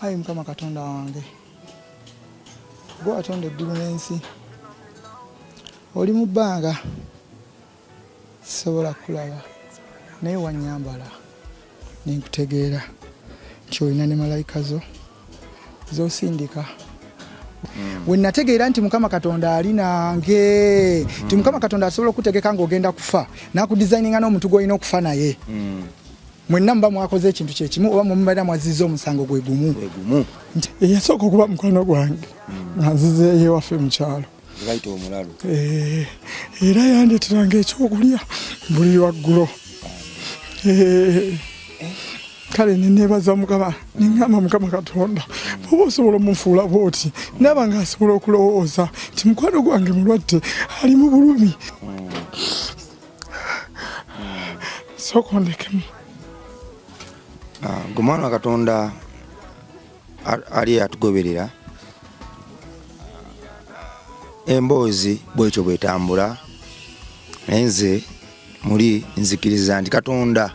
ayi mukama katonda wange gwe watonda eggulu n'ensi oli mu bbanga sisobola kulaba naye wanyambala nenkutegeera nti olina ne malayika zo zosindika Mm. we nategeera nti mukama katonda ali nange mm. nti mukama katonda asobola okutegeka ng'ogenda kufa nakudisayininga n'omuntu gwolina okufa naye mm. mwenna muba mwakoze ekintu kyekimu oba mumubeera mwazizza omusango gwe gumu nti eyasooka okuba mukwano gwange nga nzizeeyo ewaffe mu kyalo eh, era yandeteranga ekyokulya buli waggulo eh, kale nenebaza mukama nengamba mukama katonda oba osobola omufuula bwoti naaba nga asobola okulowooza nti mukwano gwange mulwadde ali mu bulumi hmm. sooka ondekemu ah, gwe mwana wa katonda ali atugoberera emboozi bwekyo bwetambula naye nze muli nzikiriza nti katonda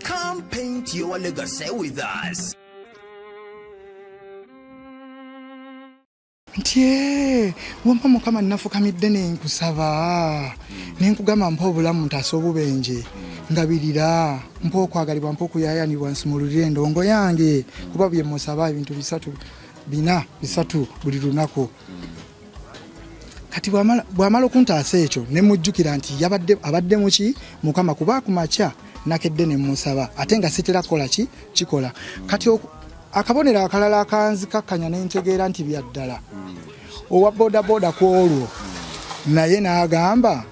Come paint your legacy with us. ntye wampa mukama nafukamidde nenkusaba nenkugamba mpa obulamu ntaasa obubenje ngabirira mpa okwagalibwa mpa okuyayanibwa nsumululire endongo yange kuba byemusaba ebintu bisatu bina bisatu buli lunaku kati bwamala okuntaasa ekyo ne mujjukira nti yabadde abadde muki mukama kuba ku makya nakedde ne musaba ate nga sitera kukola ki kikola kati akabonero akalala akanzikakkanya ne ntegeera nti bya ddala owa bodaboda ku olwo naye n'agamba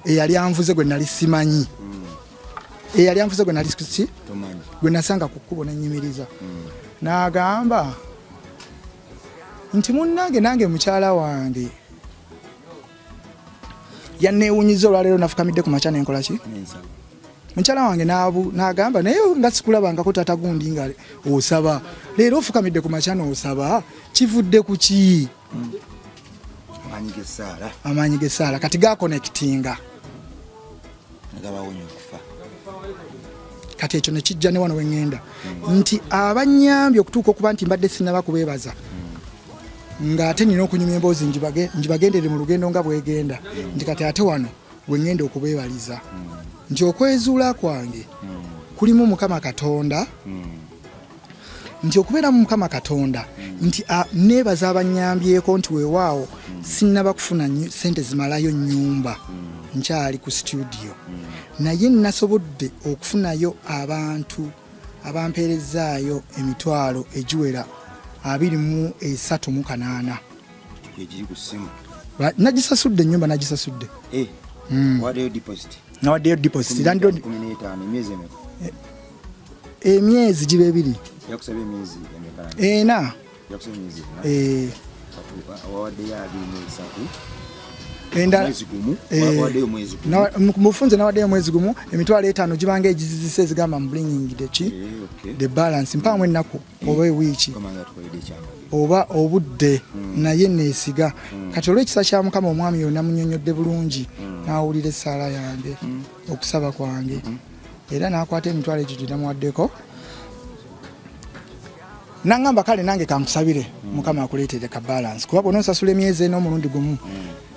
eyali anvuze gwe nali simanyi eyali anvuze gwe nali ki gwe nasanga ku kkubo nenyimiriza n'agamba nti munnange nange mukyala wange yanneewunyiza olwaleero nafukamidde ku makya nenkola ki mukyala wange nagamba naye nga sikulabangako tata gundi nga osaba leero ofukamidde ku makya noosaba kivudde ku ki amaanyi g'essaala kati gakonekitinga gabawonya okufa kati ekyo nekijja ne wano weŋŋenda hmm. nti abanyambye okutuuka okuba nti mbadde sinaba kubeebaza hmm. ng'ate nina okunyumya emboozi njibagendere mu lugendo nga bwegenda hmm. nti kati ate wano weŋŋenda okubeebaliza nti okwezuula kwange kulimu mukama katonda nti okubeeramu mukama katonda nti neebaza abanyambyeko nti weewaawo sinnaba kufuna sente zimalayo nyumba nkyali ku situdiyo naye nasobodde okufunayo abantu abampeerezaayo emitwalo egiwera abiri mu esatu mu kanaana nagisasudde enyumba nagisasudde eh, hmm. nawaddeyo deposit landlord emyezi giba ebiri ena eh. mufunze nawaddeyo omwezi gumu emitwalo etaano gibanga egizizisa ezigamba mbringing the ki eh, the balance mpaamu ennaku mm. oba ewiiki oba obudde hmm. naye neesiga hmm. kati olw'ekisa kya mukama omwami yona munyonyodde bulungi hmm. n'awulira essaala yange okusaba kwange era n'akwata emitwalo egyo gye namuwaddeko nangamba kale nange kankusabire mukama akuleetere ka balance kuba bwona osasula emyezi ena omulundi gumu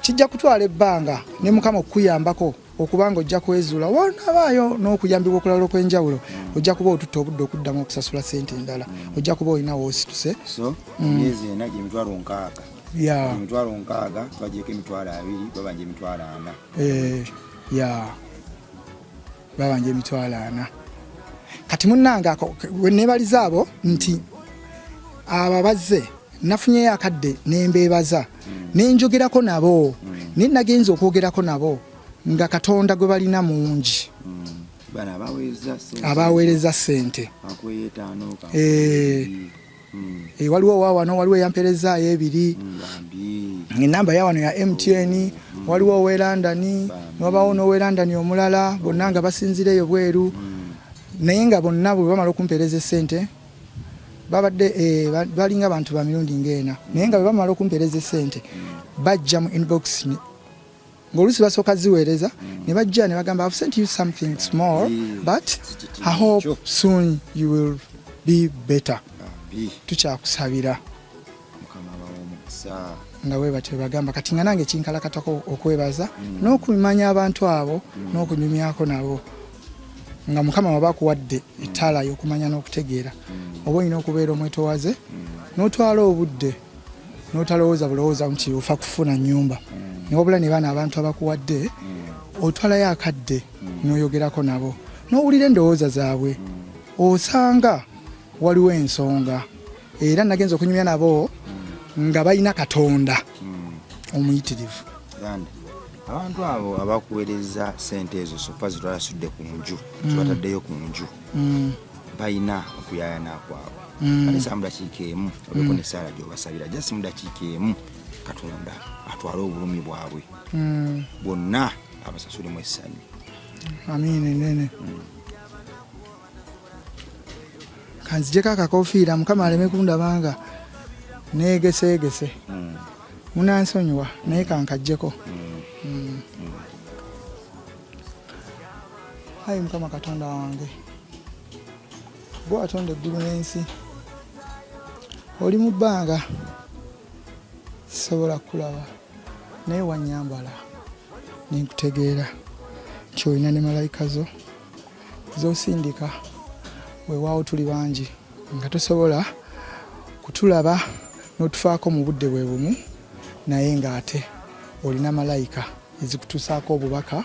kijja kutwala ebbanga ne mukama okukuyambako okuba nga ojja kwezuula wanabaayo n'okuyambibwa okulala okw'enjawulo ojja kuba otutta obudde okuddamu okusasula sente endala ojja kuba olina woosituse emyezi ena gyemitwalo nkaaga emitwalo nkaaga twagyeko emitwalo abiri babanja emitwalo ana eh, ya babanja emitwalo ana kati munnange ako nebaliza abo nti abo abazze nafunyeyo akadde nembeebaza nenjogerako nabo naye nagenza okwogerako nabo nga katonda gwe balina mungi abaweereza sente Eh, waliwo wawano waliwo eyamperezaayo ebiri enamba yawano ya mtn mm. waliwo owe london wabawo nowe london omulala bonna nga basinzira eyo bweru mm. naye nga bonna bwebamala okumpereza esente babadde eh, balinga bantu ba mirundi ng'ena naye nga bwe bamala okumpeereza esente bajja mu inbox ng'oluusi basooka ziweereza ne bajja ne bagamba have sent you something small but i hope soon you will be better tukyakusabira nga bwe batyo bagamba kati nga nange kinkalakatako okwebaza mm. n'okumanya abantu abo mm. n'okunyumyako nabo nga mukama waba akuwadde ettaala y'okumanya n'okutegeera mm. oba olina okubeera omwetowaze n'otwala obudde n'otalowooza bulowooza nti ofa kufuna nnyumba newabula ne baana abantu abakuwadde otwalayo akadde n'oyogerako nabo n'owulira endowooza zaabwe osanga waliwo ensonga era nagenza okunyumya nabo nga balina katonda hmm. omuyitirivu abantu abo abakuwereza sente ezo sofa zitwalasudde ku nju hmm. zibataddeyo ku nju hmm. balina okuyayana kwabwe alesa mudakiika emu oleko nesaala gyobasabira jasi mudakiika emu katonda atwale obulumi bwabwe bwonna abasasulemu essanyu amiini nene kanzijeko akakofiira mukama aleme kundabanga neegeseegese hmm. munansonyiwa naye kankajjeko hmm. ayi mukama katonda wange gwe watonda eggulu n'ensi oli mu bbanga sisobola kukulaba naye wanyambala nenkutegeera nti olina ne malayika zo zosindika wewaawo tuli bangi nga tosobola kutulaba n'otufaako mu budde bwe bumu naye ng'ate olina malayika ezikutuusaako obubaka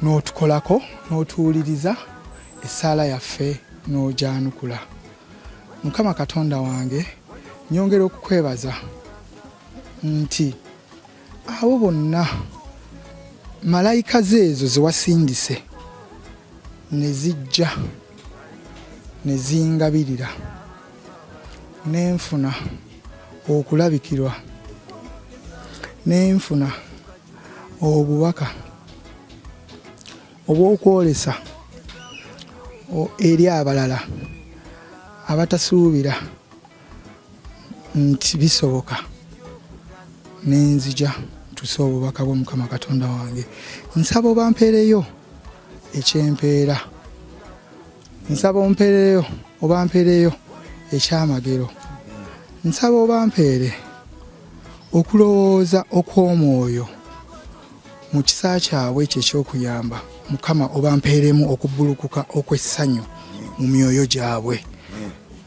n'otukolako n'otuwuliriza essaala yaffe n'ogyanukula mukama katonda wange nyongera okukwebaza nti abo bonna malayika zeezo zewasindise ne zijja ne zingabirira ne nfuna okulabikirwa ne nfuna obubaka obw'okwolesa eri abalala abatasuubira nti bisoboka nenzija tuse obubaka bwo mukama katonda wange nsaba obampeereyo ekyempeera nsaba ompeereyo obampeereyo ekyamagero nsaba obampeere okulowooza okw'omwoyo mu kisa kyabwe ekyo eky'okuyamba mukama obampeeremu okubbulukuka okw'essanyu mu myoyo gyabwe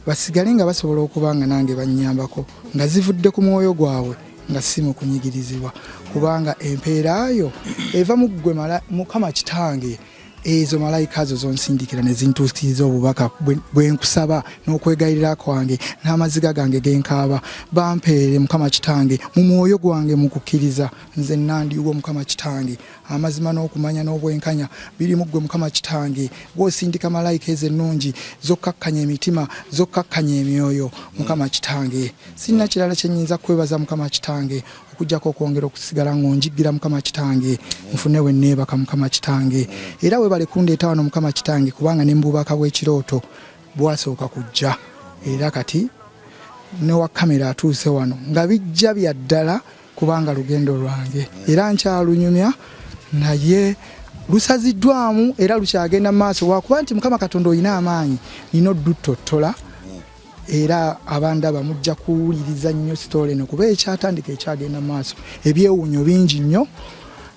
basigale nga basobola okuba nga nange bannyambako nga zivudde ku mwoyo gwabwe nga si mu kunyigirizibwa kubanga empeera yo eva mu ggwe mukama kitange ezo malayika zo zonsindikira ne zintuukiriza obubaka bwe nkusaba n'okwegayirira kwange n'amaziga gange genkaaba bampeere mukama kitange mu mwoyo gwange mu kukkiriza nze nandiwo mukama kitange amazima n'okumanya n'obwenkanya biri muggwe mukama kitange gwosindika malayika ezo ennungi zokkakkanya emitima zokkakkanya emyoyo mukama kitange sirina kirala kyenyinza kwebaza mukama kitange okujjako okwongera okusigala ng'onjiggira mukama kitange nfune we neebaka mukama kitange era webale kundeeta wano mukama kitange kubanga ne mububaka bw'ekirooto bwasooka kujja era kati ne wa kamera atuuse wano nga bijja bya ddala kubanga lugendo lwange era nkyalunyumya naye lusaziddwamu era lukyagenda mu maaso wakuba nti mukama katonda olina amaanyi nina odduttotola era abandaba mujja kuwuliriza nnyo sitole eno kuba ekyatandika ekyagenda mu maaso ebyewuunyo bingi nnyo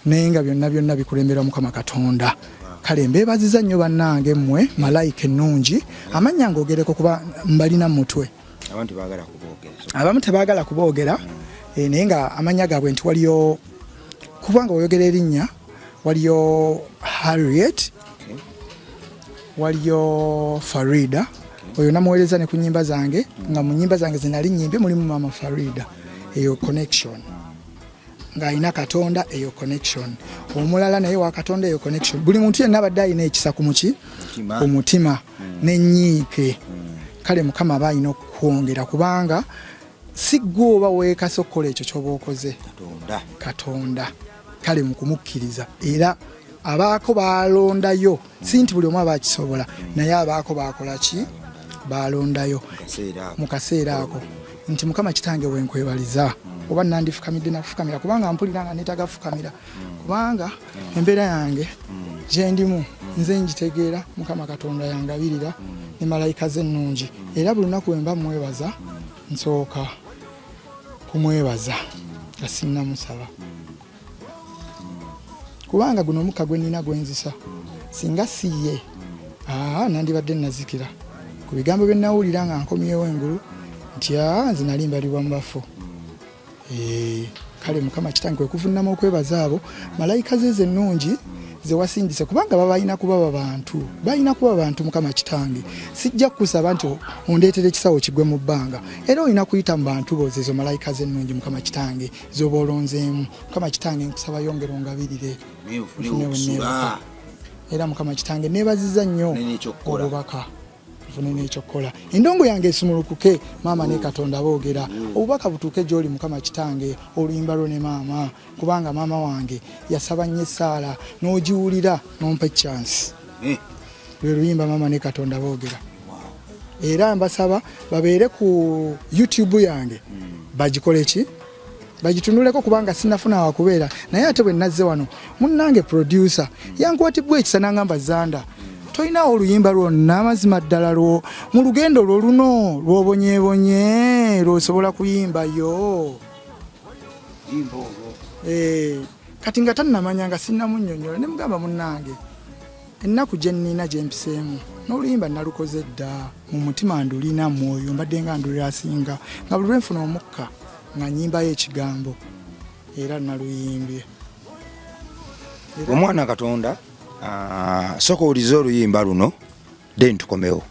naye nga byonna byonna bikulemberwa mukama katonda kale mbeebaziza nnyo bannange mmwe malayika ennungi amannya ngogereko kuba mbalina mutwe abantu bagala kubogera abamu tebagala kubogera mm. naye nga amanya gaabwe nti waliyo kubanga oyogera erinnya waliyo harriet okay. waliyo farida okay. oyo namuweereza ne ku nyimba zange mm. nga mu nyimba zange zinali nyimbi mulimu mama farida eyo connection mm. ng'alina katonda eyo connection omulala naye wa katonda eyo connection buli muntu yenna abadde alina ekisa ku muki ku mutima hmm. nenyiike hmm. kale mukama aba alina okukwongera kubanga si gwe oba weekasa okukola ekyo kyoba okoze katonda kale mukumukkiriza era abaako balondayo si nti buli omu aba akisobola naye abaako bakola ki balondayo mu kaseera ako nti mukama kitange wenkwebaliza oba nandifukamidde nakufukamira kubanga mpulira nga netaga fukamira kubanga mm. embeera yange mm. gyendimu mm. nze ngitegeera mukama katonda yangabirira ne malayika ze ennungi era buli lunaku wemba mwebaza nsooka kumwebaza nga sinnamusaba kubanga guno omukka gwe nnina gwenzisa singa si ye nandibadde nazikira ku bigambo bye nawulira nga nkomyewo engulu nti nze nali mbalibwa mu bafu kale mukama kitange kwe kuvunnama okwebaza abo malayika ze zennungi zewasindise kubanga babalina kuba babantu balina kuba bantu mukama kitange sijja kukusaba nti ondeetera ekisawo kigwe mu bbanga era olina kuyita mu bantu bozezo malayika zennungi mukama kitange zoba olonzeemu mukama kitange nkusaba yongera ongabirire era mukama kitange nebaziza nnyo obubaka nfune n'ekyokukola endongo yange esumulukuke maama ne katonda boogera obubaka butuuke gy'oli mukama kitange oluyimba lwo ne maama kubanga maama wange yasaba nnyo essaala n'ogiwulira n'ompa ekyansi eh. lwe luyimba maama ne katonda boogera era mbasaba babeere ku youtube yange hmm. bagikole ki bagitunuleko kubanga sinafuna wakubeera naye ate bwe nazze wano munnange producer hmm. yankwatibwa ekisa nangamba zanda hmm. tolinawo oluyimba lwonna amazima ddala lwo mu lugendo lwo luno lwobonyebonye lwosobola kuyimbayo eh, kati nga tannamanya nga sinnamunyonyola ne mugamba munnange ennaku gye nnina gye mpiseemu n'oluyimba nalukoze dda mu mutima ndulina mwoyo mbadde nga ndulira asinga nga buli lwenfuna omukka nga nyimbayo ekigambo era naluyimbye omwana katonda ah, soka olize oluyimba luno then tukomewo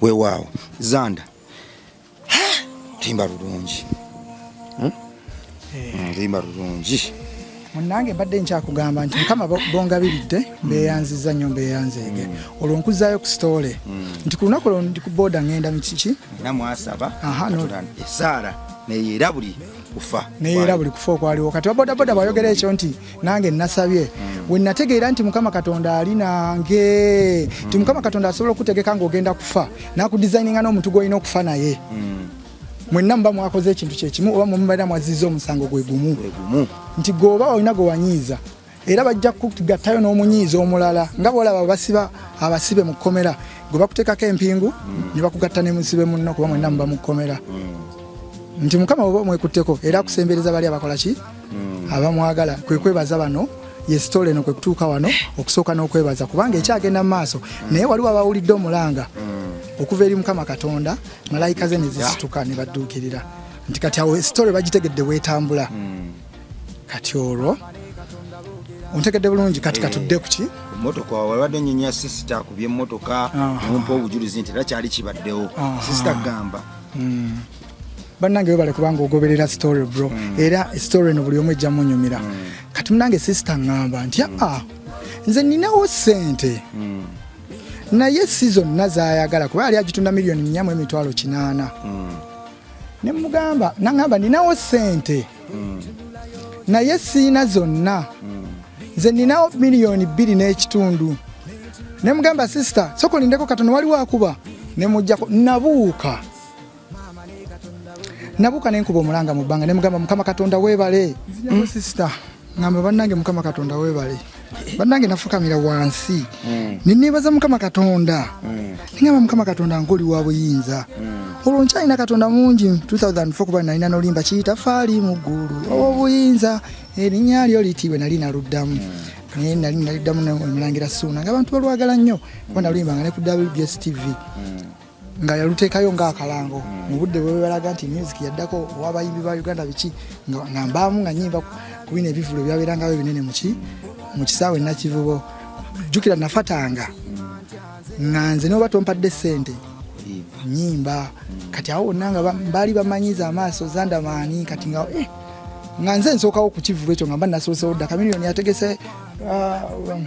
wewaawo zanda timba lulungi hmm? eh. hmm, timba lulungi munange mbadde nkyakugamba nti mukama bongabiridde mbeyanziza nyo mbeyanzeege hmm. olwo nkuzayo ku sitole nti ku lunaku lwo ndi ku booda ngenda mukiki namwasaba esaala neyera buli kufa neyera buli kufa okwaliwo kati babodaboda bayogera ekyo nti nange nasabye wenategeera nti mukama katonda ali nange nti mukama katonda asobola okutegeka ngaogenda kufa nakudesigninga n'omuntu gwolina okufa naye mwenna muba mwakoze ekintu kyekimu oba mumubaera mwaziza omusango gwe gumu nti gweoba olina gwewanyiiza era bajja kugattayo n'omunyiiza omulala nga bwolaba basiba abasibe mu kkomera gwe bakuteekako empingu mm. ne bakugatta ne musibe munno kuba mwenna muba mu kkomera mm. nti mukama oba omwekutteko era akusembereza bali abakola ki hmm. abamwagala kwe kwebaza bano yesitole eno kwe kutuuka wano okusooka n'okwebaza kubanga ekyagenda mu maaso hmm. naye waliwo abawulidde omulanga hmm. okuva eri mukama katonda malayika ze ne zisituka ne badduukirira nti kati awo esitole bagitegedde weetambula kati olwo ontegedde bulungi kati eh. katudde kuki motoka wabadde nyenya sisita akubye motoka nompa obujulizi nti era kyali kibaddewo sisita gamba bannange webale kubanga ogoberera story bro mm. era story eno buli omu ejja munyumira mm. kati munange sisita ŋŋamba nti mm. aa ah, nze ninawo ssente mm. naye si zonna zayagala kuba yali agitunda miliyoni nyamu emitwalo kinaana mm. ne mugamba naŋamba ninawo ssente mm. naye siina zonna mm. nze ninawo miliyoni bbiri n'ekitundu ne mugamba sisita sokolindeko katono waliwo akuba ne mujjako nabuuka nabuuka nenkuba omulanga mu bbanga nemugamba mukama katonda webale mm. sisita ngamba bannange mukama katonda webale bannange nafukamira wansi mm. nenebaza mukama katonda mm. nengamba mukama katonda nkoli wa buyinza olwo nkyalina katonda mungi 2004 kuba nalina nolimba kiyitafaali mu ggulu owobuyinza erinnya lyo litiibwe nali naluddamu naye nali naliddamu omulangira suuna nga abantu balwagala nnyo kuba naluyimbanga ne ku wbs tv nga yaluteekayo ng'akalango hmm. mu budde bwebalaga nti music yaddako owabayimbi ba uganda biki nga mbaamu nga nyimba ku bino ebivulo byabeerangayo ebinene muki mu kisaawe nakivubo jjukira nafatanga nga nze noba tompadde ssente nyimba kati awo wonna nga baali bamanyiza amaaso zandamaani kati nga eh, nga nze nsookawo ku kivulu ekyo nga mba nasoosewo dda kamiliyoni yategese uh, um,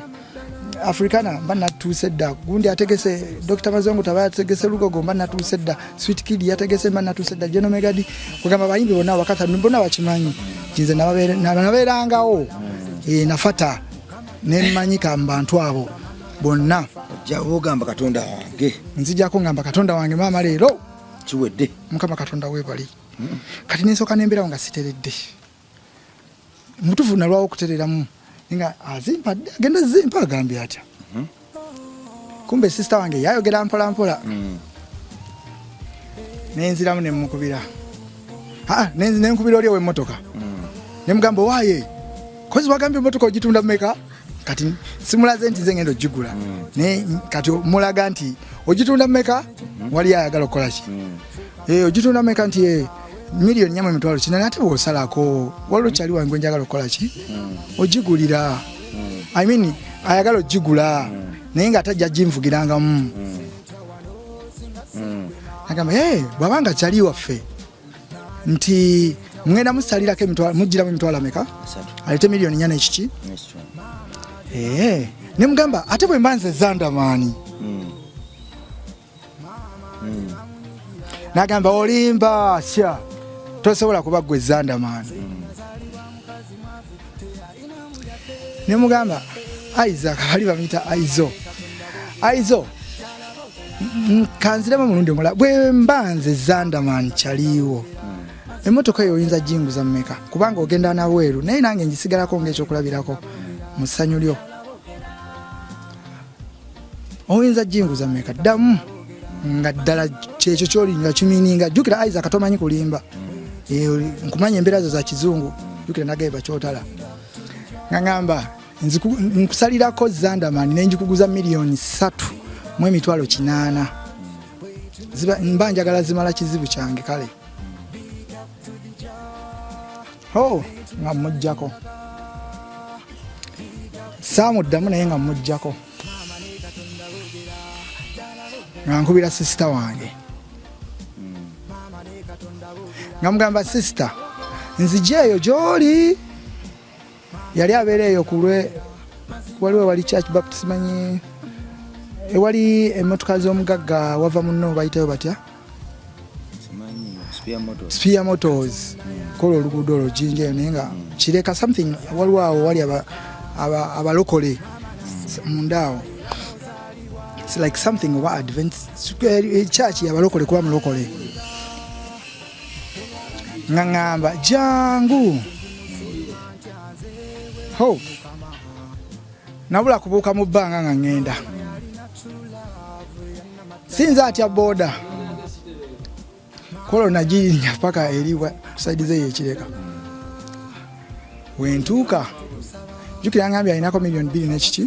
africana mba natuuse dda gundi ategese dr mazongo taba yategese lugogo mba natuuse dda sweet kid yategese mba natuuse dda genomegadi kugamba bayimbi bonna wakata mbona bakimanyi kinze nabeerangawo e, nafata nemanyika mubantu abo bonna ogamba katonda wange nzijako ngamba katonda wange maama leero kiwedde mukama katonda webali kati nensoka nemberawo nga siteredde mutufu nalwawo okutereramu nga azimpa agenda zimpa agambye atya mhm. kumbe sisita wange yayogera mpola mpola mm. nenziramu nemukubira nenkubira oli owemotoka mm. nemugamba owaye kozi wagambye emotoka ogitunda mumeka kati simulaze nti ze ngenda ogigula mm. naye kati mulaga nti ogitunda mumeka mm-hmm. wali ayagala okukola ki mm. eh, ogitunda mumeka nti eh, miliyoni nyamu emitwalo kinani ate bwosalako waliwo kyali wange njagala okukola ki mm. ogigulira i mean ayagala ogigula naye nga atajja ginvugirangamu agamba bwabanga kyali waffe nti mugenda musalirako emitwalo mugiramu emitwalo ameka alete miliyoni nyana ekiki eh, ne mugamba ate bwe mba nze zandamaani hmm. hmm. nagamba olimba sya tosobola kuba gwe zandamaani hmm. ne mugamba Isaac bali bamita Aizo Aizo kanziremu mulundi omulala bwe mba nze Zandaman kyaliiwo emmotoka eyo oyinza jinguza mumeka kubanga ogenda nabweru naye nange njisigalako ngaekyokulabirako mu ssanyu lyo oyinza jinguza meka ddamu nga ddala kyekyo kyoli nga kimininga jjukira isaac tomanyi kulimba eh, nkumanya embeera zo za kizungu jjukira nagaye bakyotala nga ngamba nkusalirako zandamani nenjikuguza miliyoni satu mu emitwalo kinaana mba njagala zimala kizibu kyange kale oh, nga mujjako saamuddamu naye nga mujjako nga nkubira sisita wange nga mugamba sisita nzija eyo gyoli yali abeera eyo kulwe waliwo wali church baptist manyi ewali emotoka z'omugagga wava munno bayitayo batya spear motors kola oluguudo olwo jinja eyo naye nga kireka something waliwo awo wali abalokole mundaawo its like something oba advent eh, church yabalokole kuba mulokole nga ŋamba jangu hope nabula kubuuka mu bbanga nga ŋŋenda sinza atya boda kolo nagirinya paka eri kusaidiza eyo ekireka wentuuka jukira ngambye alinako miliyoni bbiri nekiki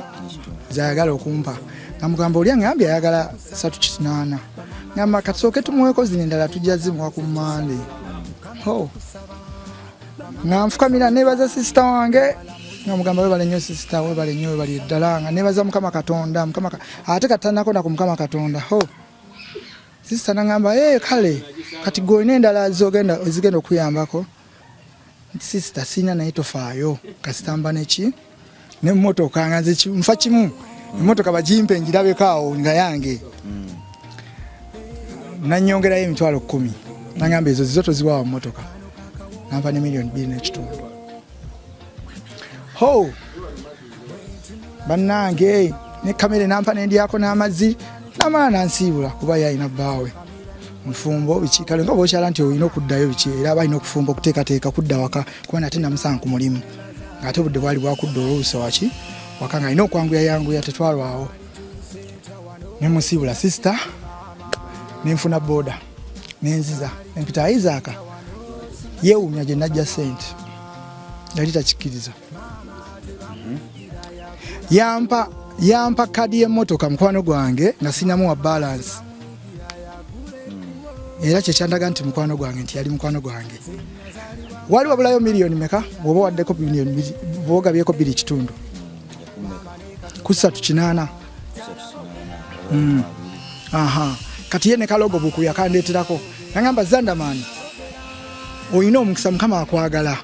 zayagala okumpa namugamba oli angambye ayagala satu kinaana ngamba katusooke tumuweko zino endala tujja zimuwa ku mande oh. nga nfukamira nebaza sisita wange nga mugamba webale nnyo sisita webale nnyo webali ddala nga nebaza mukama katonda mukama ate katanako naku mukama katonda ho sisita nangamba e eh, kale kati gwe olina endala zogenda ozigenda okuyambako sisita sirina naye tofaayo kasitamba neki ne mmotoka nga nze nfa kimu emmotoka mm. bagimpe ngirabeko awo nga yange mm. nanyongerayo emitwalo kkumi nagamba ezo zizo toziwawa mmotoka nampa ne miliyoni bbiri n'ekitundu ho bannange ne kamere nampa nendyako n'amazzi namala nansiibula kuba yalina bbaawe mufumbo biki kale nga bokyala nti olina okuddayo biki era balina okufumba okuteekateeka kudda waka kuba nate namusanga ku mulimu ng'ate obudde bwali bwakudda oluusa waki waka nga alina okwanguya yanguya tetwalwawo ne musiibula sisita nenfuna booda nenziza empita aizaaka yeewuumya gye najja sente yali takikkiriza mhm. yampa yampa kadi y'emmotoka mukwano gwange nga sinamuwa balansi era kyekyandaga nti mukwano gwange nti yali mukwano gwange mm. wali wabulayo miliyoni meka bwoba waddeko miliyoni bwogabyeko biri kitundu kusatu kinaana hmm. aha kati ye ne kalogo buku yakandeeterako nagamba zandamani olina omukisa mukama akwagala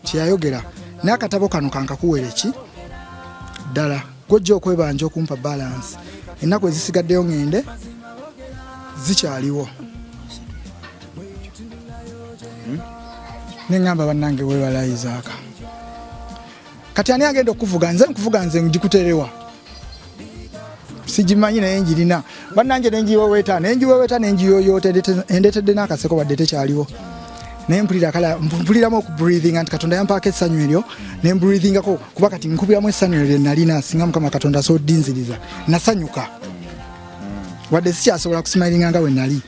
kyeyayogera naye akatabo kano kankakuwera ki ddala gwojja okwebanja okumpa balansi ennaku ezisigaddeyo ngende zikyaliwo hmm? neŋamba bannange webala isaaka kati ani agenda okuvuga nze nkuvuga nze ngikuterewa sigimanyi naye njirina bannange nenjiweweta nenjiweweta nenjiyoyoota endetedde n'akaseko badde tekyaliwo naye mpulira kala mpuliramu okubreathinga nti katonda yampaako essanyu eryo ne mbreathingako kuba kati nkubiramu essanyu eryo lye nalina singa mukama katonda soddinziriza nasanyuka wadde sikyasobola kusimayiringa nga bwe nali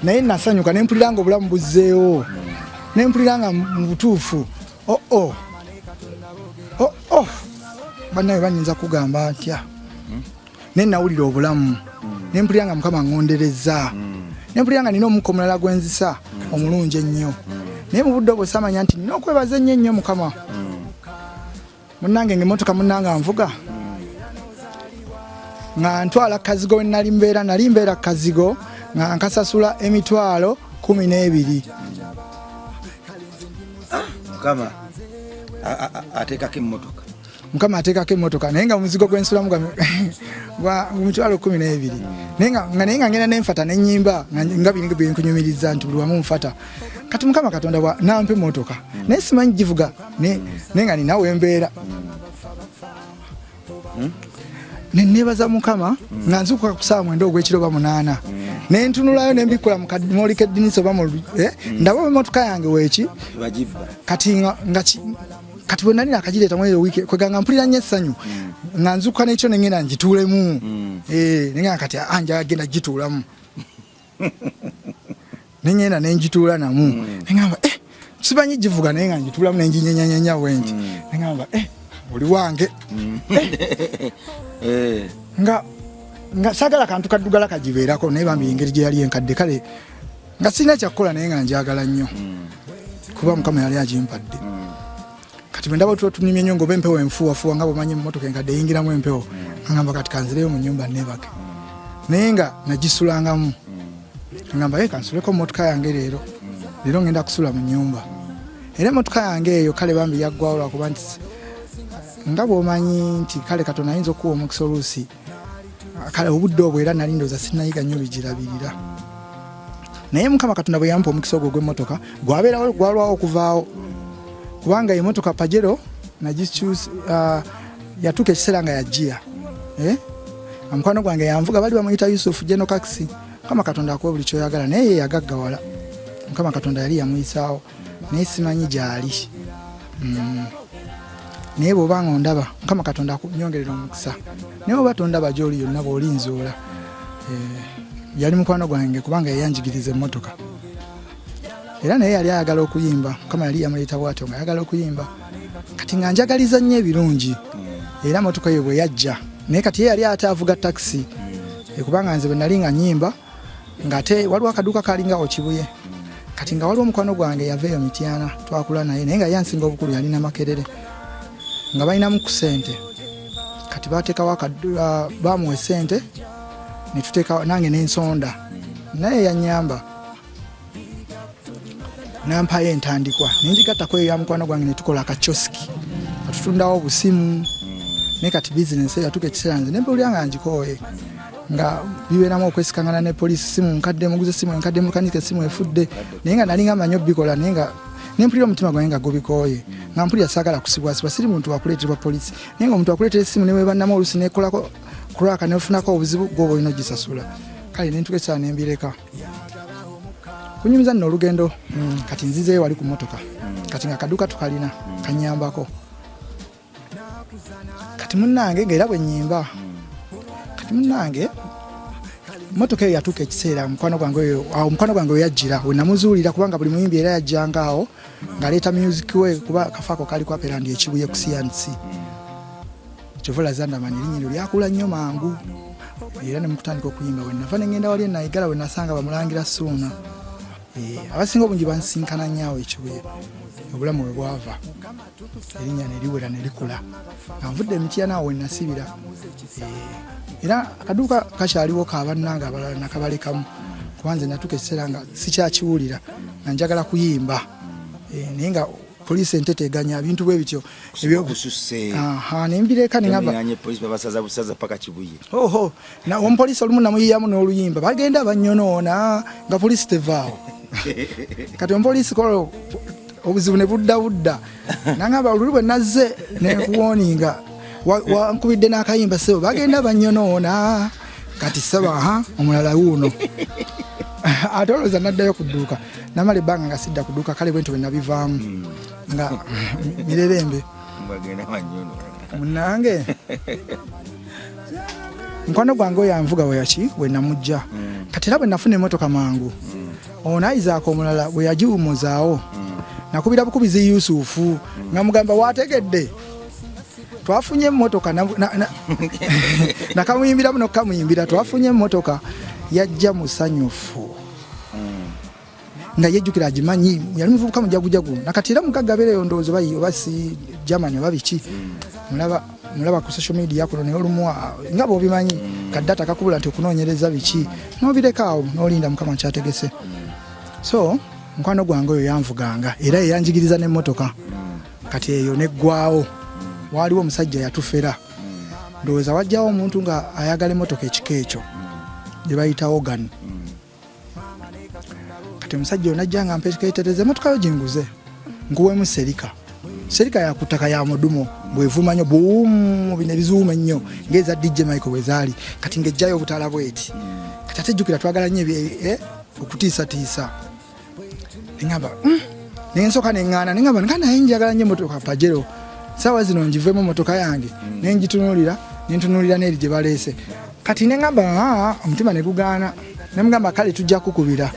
naye nasanyuka ne mpulira nga obulamu buzzeewo ne mpulira nga mu butuufu oo oh, oh. oo oh, oo bannawe banyinza kugamba ntya hmm? naye nawulira obulamu hmm. ne mpulira nga mukama ngonderezza hmm. ne mpulira nga nina omukka omulala gwenzisa omulungi ennyo naye mu budde obwo samanya nti nina okwebaza ennyo ennyo mukama munange nga emotoka munange anvuga nga ntwala kazigo wenali mbeera nali mbeera kazigo nga nkasasula emitwalo kumi n'ebiri mukama ateekako emmotoka mukama ateekako emmotoka naye nga omuzigo gwensulamu gwa mitwalo kumi n'ebiri naye nga ngenda nenfata nenyimba nga bini byenkunyumiriza nti buli wamu nfata kati mukama katonda nampa emmotoka naye simanyi givuga naye nga ninawe mbeera hmm? nenebaza mukama nga nzukuka ku saawa mwenda ogwekiro ba munaana naye ntunulayo nembikula mu kadimoli k'eddinisa oba mu eh, ndaba emotoka yange weeki kati nga kati bwe nali nakagireeta mweri owiki kweganga mpulira nnyo essanyu mm. nga nzukuka nekyo nengenda ngituulemu mm. eh, nenga kati anjagenda ah, gituulamu nenyenda nenjituula namu mm. neŋamba eh, sibanyi givuga naye nga njituulamu nenjinyenyanyenya bwenti mm. neŋamba eh, oli wange mm. eh. eh. nga nga sagala kantu kaddugala kagibeerako naye bambi engeri gye yali enkadde kale nga sirina kyakukola naye nga njagala nnyo mm. kuba mukama yali agimpadde mm. kati bwendaba tuba tunimye nyo ngaoba empewo enfuwafuwa nga bwemanyi emotoka enkadde eyingiramu empewo agamba kati kanzireyo mu nyumba nebake naye nga nagisulangamu agamba ye kansuleko motoka yange leero leero ngenda kusula mu nyumba era emotoka yange eyo kale bambi yaggwawo lwakuba nti nga bwomanyi nti kale katonda ayinza okuwa omukisa oluusi kale obudde obwo era nali ndooza sinayiga nnyo bigirabirira naye mukama katonda bwe yampa omukisa ogwo gw'emmotoka gwabeerawo gwalwawo okuvaawo kubanga emotoka pajero nagikyusa uh, yatuuka ekiseera nga yajiya eh? omukwano gwange yanvuga bali bamuyita yusufu jeno kaxi mukama katonda akuwa buli kyoyagala naye yeyagaggawala mukama katonda yali yamuyisaawo naye simanyi gyali mm. naye bwoba nga ondaba mukama katonda akunyongerera omukisa naye oba tondaba gyoli yonna bwoli nzuula eh, yali mukwano gwange kubanga yayanjigiriza emmotoka era naye yali ayagala okuyimba mukama yali yamuleeta bwatyo nga ayagala okuyimba kati nga njagaliza nnyo ebirungi era motoka ye bwe yajja naye kati ye yali ate avuga takisi eh, kubanga nze bwe nali nga nyimba ngate waliwo akaduuka kalinga okibuye kati nga waliwo omukwano gwange yava eyo mityana twakula naye naye nga yansinga obukulu yalina makerere nga balinamu ku sente kati batekawo uh, bamuwa esente nange nensonda naye yanyamba nampayo entandikwa nenjigattako eyo ya mukwano gwange netukola akacoski atutundawo obusimu naye kati bizinesi eyo atuka ekiseera nze nempulira nga ngikooye nga bibeeramu okwesikangana ne poliisi simu nkadde muguze simu enkadde mulukanyika esimu efudde naye nga nalinga manyi obikola naye nga nempulira omutima gwange nga gubikooye nga mpulira saagala kusibwasibwa siri muntu wakuleeterwa poliisi naye nga omuntu akuleetera esimu newebannamu olusi nekolako kuraka nefunako obuzibu gwoba olina ogisasula kale nentuka ekiseera nembireka kunyumiza nno olugendo mm, kati nzizeyo wali ku motoka mm. kati nga kaduka tukalina mm. kanyambako kati munange ngaera bwenyimba kati munange motoka eyo yatuuka ekiseera mukwano gwange oyo awo mukwano gwange weyajjira wenamuzuulira kubanga buli muyimbi era yajjanga awo ngaleeta music we kuba kafaako kali kwapera ndi ekibuye ku cnc kyova olaza ndamanyi erinnya eryo lyakula nnyo mangu era ne mukutandika okuyimba we nava ne ngenda wali enayigala we nasanga bamulangira suuna eh, abasinga obungi bansisinkana nnyo awo ekibuye obulamu we bwava erinnya ne liwera ne likula nga nvudde emitiana awo we nasibira eh, era akaduuka kakyaliwo ka bannange abalala nakabalekamu kuba nze natuuka ekiseera nga sikyakiwulira nga njagala kuyimba eh, naye nga police entete eganya bintu bwe bityo ebyo kususse aha ne mbireka ne ngaba yanye police babasaza busaza paka kibuye oho na on police olumu na muyiyamu no luyimba bagenda banyonona nga police tevao kati on police kolo obuzibu ne budda budda nangaba olulu bwe nazze ne kuwoninga wankubidde wa n'akayimba sebo bagenda banyonona kati saba ha omulala wuuno ate olowooza naddayo ku dduuka namala ebbanga nga sidda kuduka kale bwentyo bwenabivaamu hmm. nga mirerembe munange mukwano gwange oyo anvuga weyaki wenamujja hmm. kati era bwenafuna emotoka mangu hmm. ono ayizaako omulala weyagiwumuzaawo nakubira bukubizi yusufu nga mugamba wategedde twafunye emotoka nakamuyimbiramu nokukamuyimbira twafunye emotoka yajja musanyufu nga yejjukira agimanyi yali muvubuka mujagujagu nakati era mugagga abeera eyo ndowooza bayi oba si germany oba biki mulaba mulaba ku social media kuno naye olumu ah, nga bwobimanyi kadata kakubula nti okunoonyereza biki nobirekaawo nolinda mukama kyategese so mukwano gwange oyo yanvuganga era eyanjigiriza n'emmotoka kati eyo neggwawo waaliwo omusajja yatufera ndowooza wajjawo omuntu nga ayagala emotoka ekika ekyo gyebayita ogan kati omusajja onajja nga mpeketereza emotoka yo gyenguze nkuwemu serika serika yakutaka ya mudumo bwevuma nyo buumu bino ebizuuma ennyo ngaeza dj michael bwezaali kati ngejjayo obutala bweti kati ate jjukira twagala nyo eh, okutiisatiisa neŋamba hmm, nensoka neŋana neŋamba nga naye njagala nyo emotoka pajero sawa zino njivemu motoka yange hmm. nenjitunulira nentunulira neeri gye baleese kati neŋamba ah, omutima negugaana nemugamba kale tujja kukubira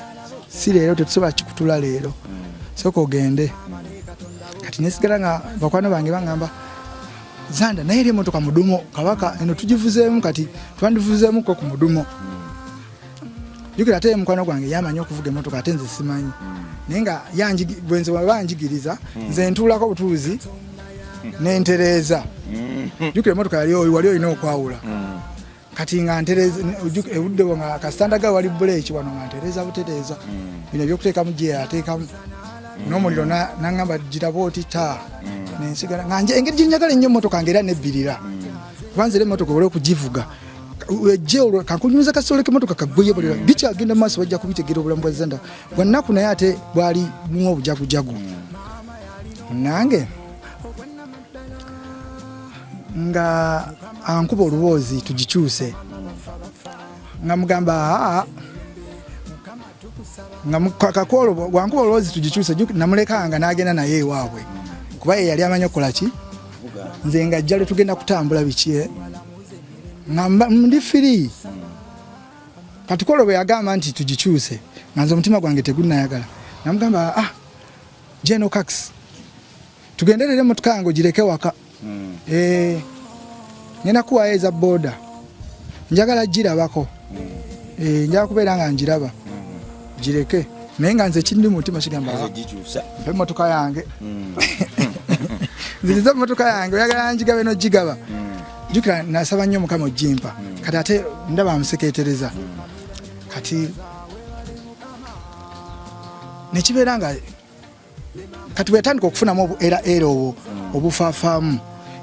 si leero tetusobola kikutula leero hmm. soka ogende kati nesigala nga bakwano bange baŋamba zanda naye eri emotoka mudumo kabaka eno tugivuzeemu kati twandivuzeemuko ku mudumo jukira ate mukwano gwange yamanyi okuvuga emotoka ate nze simanyi hmm. naye nga bwenze banjigiriza hmm. nze ntuulako obutuuzi hmm. nentereeza jukira emotoka yali oyo wali olina okwawula kati nga ntereeza ebudde bwo nga kasitanda ga wali buleeki wano nga ntereeza butereeza bino ebyokuteekamu gye ateekamu n'omuliro nangamba giraba oti ta nensigala nga engeri gyenjagala ennyo emotoka nga era nebbirira kubanza era emotoka ola okugivuga wejje olwo kakunyumiza kasolo emotoka kaguye bulira bikyagenda maaso bajja kubitegera obulamu bwa zenda bwannaku naye ate bwali mu obujagujagu nange nga ankuba oluboozi tugikyuse nga mugamba aa nga kakwolo wankuba olwozi tugikyuse namulekanga nagenda naye ewaabwe kuba ye yali amanyi okukola ki nze nga jjale tugenda kutambula biki eh? nga ndi firi kati kwolwo bwe yagamba nti tugikyuse nga nze omutima gwange tegunayagala namugamba ah jeno kax tugenderere emotoka yange ogireke waka hmm. eh, ngenda kuwayo eza boda njagala girabako eh, njaa kubeera nga njiraba gireke naye nga nze kindi mutima kigamba emotoka yange hmm. nziriza emotoka yange oyagala njigabe nogigaba hmm. jukira nasaba nnyo mukama ojimpa hmm. kati ate ndaba amuseketereza kati nekibeera nga kati bweyatandika okufunamu era era obwo obufafaamu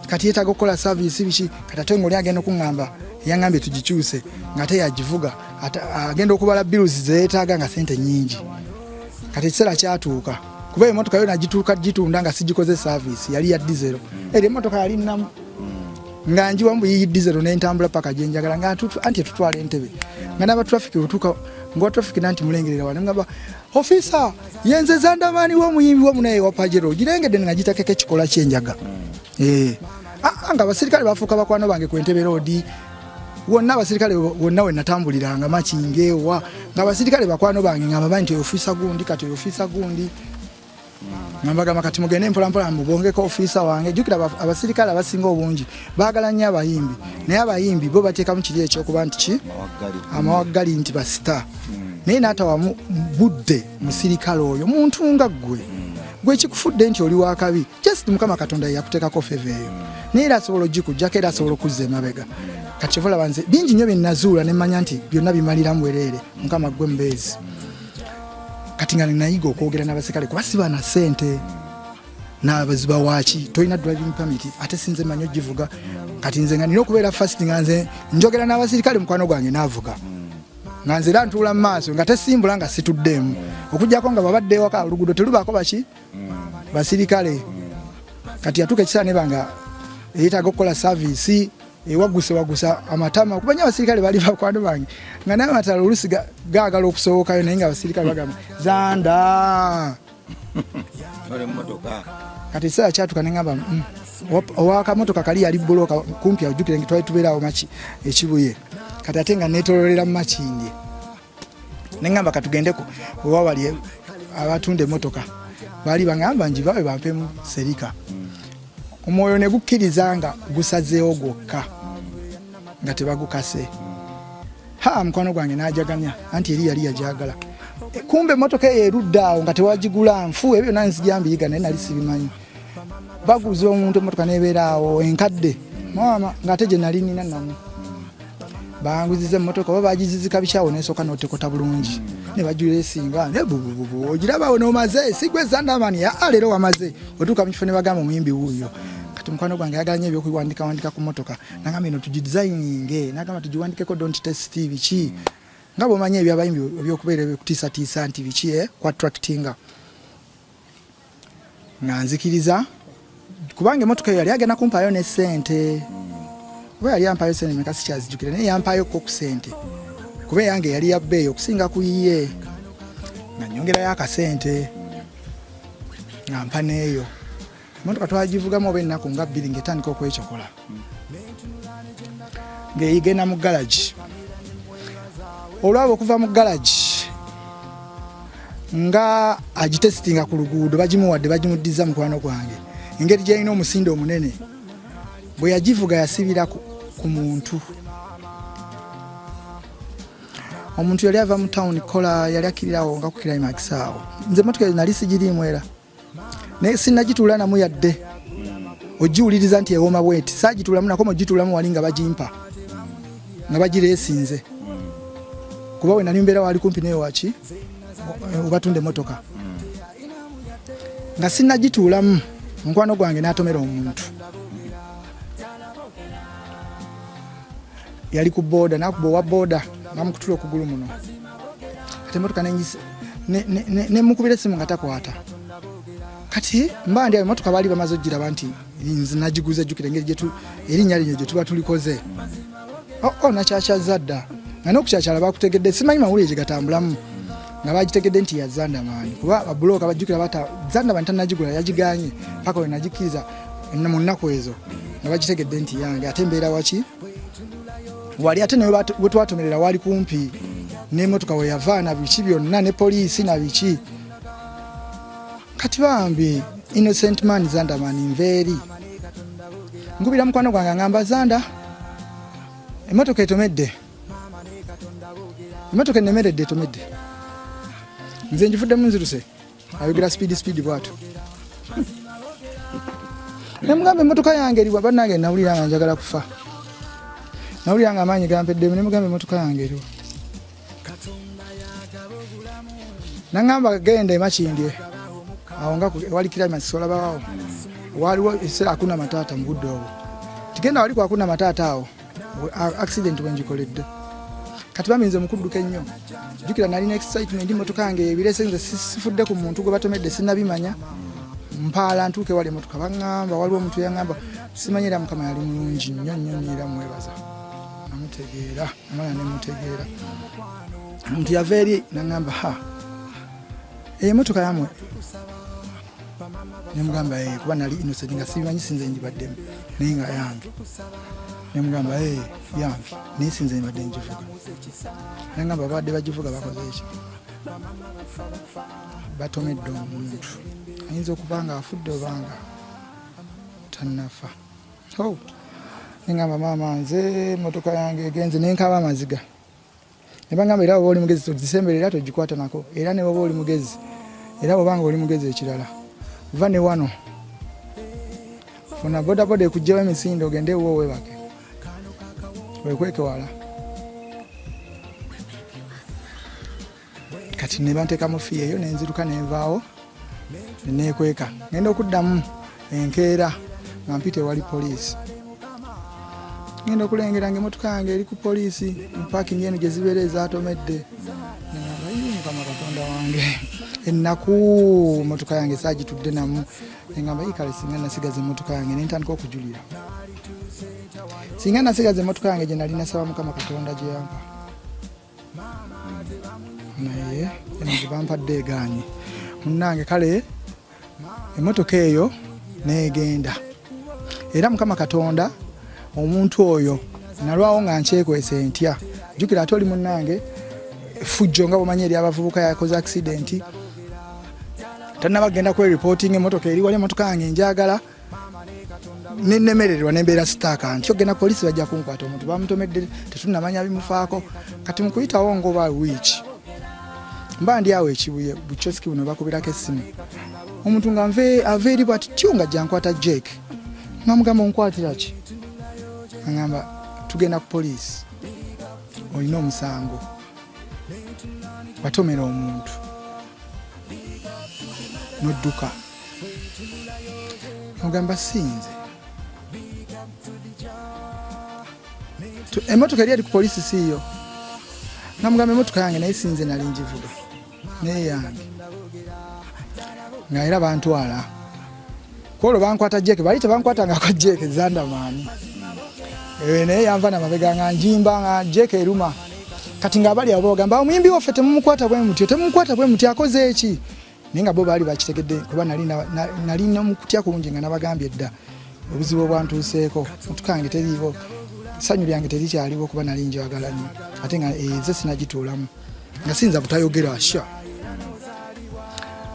kati yetaaga okukola saviisi biki kati ate ngaoli agenda okuŋŋamba yangambye tugikyuse ngaate yagivuga agenda okubala biruzi zeyetaaga nga sente nyingi kati ekiseera kyatuuka kuba emotoka yo nagituuka gitunda nga sigikoze saviisi yali ya dizero era emotoka yali namu nga njiwa mbu yiyi dizero nentambula paka gyenjagala nga anti etutwala entebe nga nabatrafiki otuuka ngawa trafiki nanti mulengerera wale ngaba ofisa yenze zandamani wo muyimbi wo munaye wa pajero girengede nga gitakeka ekikola kyenjaga mm. eh ah, nga abasirikale bafuuka bakwano bange ku entebe roodi wonna abasirikale wonna we natambuliranga makingeewa nga abasirikale bakwano bange nga bamanyi nti oyofiisa gundi kati oyofiisa gundi nambagamba kati mugende mpolampola mubongeko ofiisa wange jukira abasirikale abasinga obungi bagala nnyo abayimbi naye abayimbi bo bateekamu kiri ekyokuba nti ki amawaggali nti basita hmm. naye naatawamu budde musirikale oyo muntu nga ggwe hmm. gwe kikufudde nti oli wakabi just mukama katonda yeyakuteekako feva eyo hmm. naye era asobola ogikujjako era asobola okuzza emabega kati kivulaba nze bingi nnyo byenazuula nemmanya nti byonna bimaliramu wereere mukama ggwe mbeezi kati nga ninayiga okwogera n'abaserikale kuba siba na sente nabaziba waki tolina driving permit ate sinze manyi ogivuga kati nze nga nina okubeera fast nga nze njogera n'abaserikale mukwano gwange naavuga nga nze era ntuula mu maaso nga tesimbula nga situddeemu okujjako nga babadde ewaka oluguudo telubaako baki basirikale kati yatuuka ekisaaneba nga eyetaaga okukola saviisi ewaguse eh, wagusa amatama kuba nyo abasirikale bali bakwano bange nga naye amatala olusi gaagala okusowokayo naye nga abasirikale bagamba zanda kati ekiseera kyatuka nengamba mm, owakamotoka kali yali buloka kumpi ajukire nge twali tubeeraawo maki ekibuye kati ate nga netololera mu makindye neŋamba katugendeko oba wali abatunda emotoka baali baŋamba njibawe bampemu serika omwoyo ne gukkiriza nga gusazeewo gwokka nga tebagukase ha mukwano gwange najaganya anti eri yali yajagala kumbe emotoka eyo erudde awo nga tewagigula nfu ebyo nanzijambiyiga naye nali sibimanyi baguza omuntu emotoka nebeera awo enkadde maama ngaate gyenali nina namu banguziza emotoka oba bagizizika bikyawo nesooka notekota bulungi nebajula esinga nebubububu ogirabawo nomaze sigwe zandamani aa ah, leero wamaze otuuka mukifo nebagamba omuyimbi wuuyo kati mukwano gwange ayagala nyo ebyokuwandika wandika ku motoka nagamba eno tugidesigninge nagamba tugiwandikeko don't test biki nga bwomanyi ebyabayimbi ebyokubeera ebyokutisatiisa nti biki eh, ku attractinga nga nzikiriza kubanga emotoka eyo yali agenda kumpaayo ne sente kuba yali ampaayo sente meka sikyazijukira naye yampaayo ko ku sente kuba eyange yali ya bbeeyi okusinga ku yiye nga nyongerayo akasente nga mpa neeyo emotoka twagivugamu oba ennaku nga bbiri ngaetandika okwecokola ng'egenda mu galagi olwaba okuva mu galagi nga agitesitinga ku luguudo bagimuwadde bagimuddiza mukwano gwange engeri gyalina omusinde omunene bwe yagivuga yasibira ku muntu omuntu yali ava mu tawuni kola yali akirirawo nga ku kirayimakisi awo nze motoka nali sigiriimu era naye sinagituula namu yadde hmm. ogiwuliriza nti ewoma bwenti sagituulamu nakoma ogituulamu wali nga bagimpa nga bagireesinze hmm. kuba wenali mbeera waali kumpi naye waki obatunda emotoka hmm. nga sinagituulamu mukwano gwange n'atomera omuntu yali ku boda nakuba owa boda namukutula okugulu muno ate emotoka nenyisa nemukubira esimu nga takwata kati mba ndi emotoka baali bamaze okugiraba nti nze nagiguza jjukira engeri gyetu erinnya lino gye tuba tulikoze oo oh, oh, nakyakyazza dda nga nokukyakyala bakutegedde simanyi mawulire gye gatambulamu nga bagitegedde nti ya zandamani kuba babuloka bajjukira bata zandamani tanagigula yagiganye paka wenagikkiriza mu nnaku ezo nga bakitegedde nti yange ate mbeera waki wali ate nawe wetwatomerera wali kumpi nemotoka weyava na biki byonna ne poliisi na biki kati bambi innocent man zandaman nveeri nkubira mukwano gwange angamba zanda emotoka etomedde emotoka enemeredde etomedde nze njivuddemu nziruse ayogera speed speed bwatu nemugamba emotoka yange eriwa banange nawulira nga njagala kufa nawulira nga amaanyi gampeddemu nemugamba emotoka yange eriwa nangamba genda emakindye awo nga wali kiramas olabawawo waliwo ekiseera akuna mataata mu budde obwo tigenda wali kwakuna mataata awo accident wenjikoledde kati baminze mukudduka ennyo jukira nalina excitement motoka yange ebirese nze sifudde ku muntu gwe batomedde sinabimanya mpaala ntuuke wali emotoka baŋamba waliwo omuntu yaŋamba simanyi era mukama yali mulungi nnyo nnyo nyo era mwebaza namutegeera amala nemutegeera omuntu yava eri naŋamba ha emotoka yamwe nemugamba eh, kuba nali innocent nga sibimanyi sinze njibaddemu naye nga yange nemugamba eh, yange naye sinze nibadde njivuga nagamba babadde bagivuga bakoze eki batomedde omuntu ayinza okuba nga afudde obanga tanafa nengamba maama nze motoka yange egenze nenkaba amaziga ne bangamba era bwoba oli mugezi togisembera era togikwata nako era ne bwoba oli mugezi era bwobanga oli mugezi ekirala va ne wano funa bodaboda ekugjewo emisinde ogende ewo webake wekweke wala kati nebantekamu fiyeyo nenziruka nenvaawo neneekweka ngenda okuddamu enkeera nga mpita ewali poliisi ngenda okulengera nga emotoka yange eri ku poliisi mupakingi eno gye zibeera ezatomedde mukama katonda wange ennaku emotoka yange saagitudde namu engamba ikale singa nasigaza emotoka yange nentandika okujulira singa nasigaza emotoka yange gye nali nasaba mukama katonda gyeyampa naye eno gyebampadde egaanye munange kale emotoka eyo negenda era mukama katonda omuntu oyo nalwawo nga nkyekwese ntya jukira ate oli munange fujjo nga bwemanyi eri abavubuka yakoze accidenti tanaba genda kwe reporting emotoka eri wali emotoka yange njagala nenemererwa nembeera sitaaka nti ogenda poliisi bajja kunkwata omuntu bamutomedde tetunamanya bimufaako kati mukuyitawo ngoba wiiki mba ndi awo ekibuye bucoski buno bakubirako essimu omuntu nga nve ava eri bwati tyo nga jankwata jake nga mugamba onkwatira ki agamba tugenda ku poliisi olina omusango watomera omuntu nodduka no ogamba sinze emotoka eri eri ku polisi siiyo nga mugamba emotoka yange naye sinze nali njivuga naye yange nga era bantwala kwolwo bankwata jeke bali tebankwata ngako jeke zandamaani eh, naye yanva namabega nga njimba nga jeke eruma kati nga abali abo bagamba omuyimbi waffe temumukwata bwe mutyo temumukwata bwe mutyo akoze eki naye nga bo baali bakitegedde kuba nali nomukutya kungi nga nabagambye dda obuzibu obwantuuseeko mutukange teriiwo sanyu lyange terikyaliwo kuba nali njagala nyo ate nga eze eh, sinagituulamu nga siyinza butayogera sha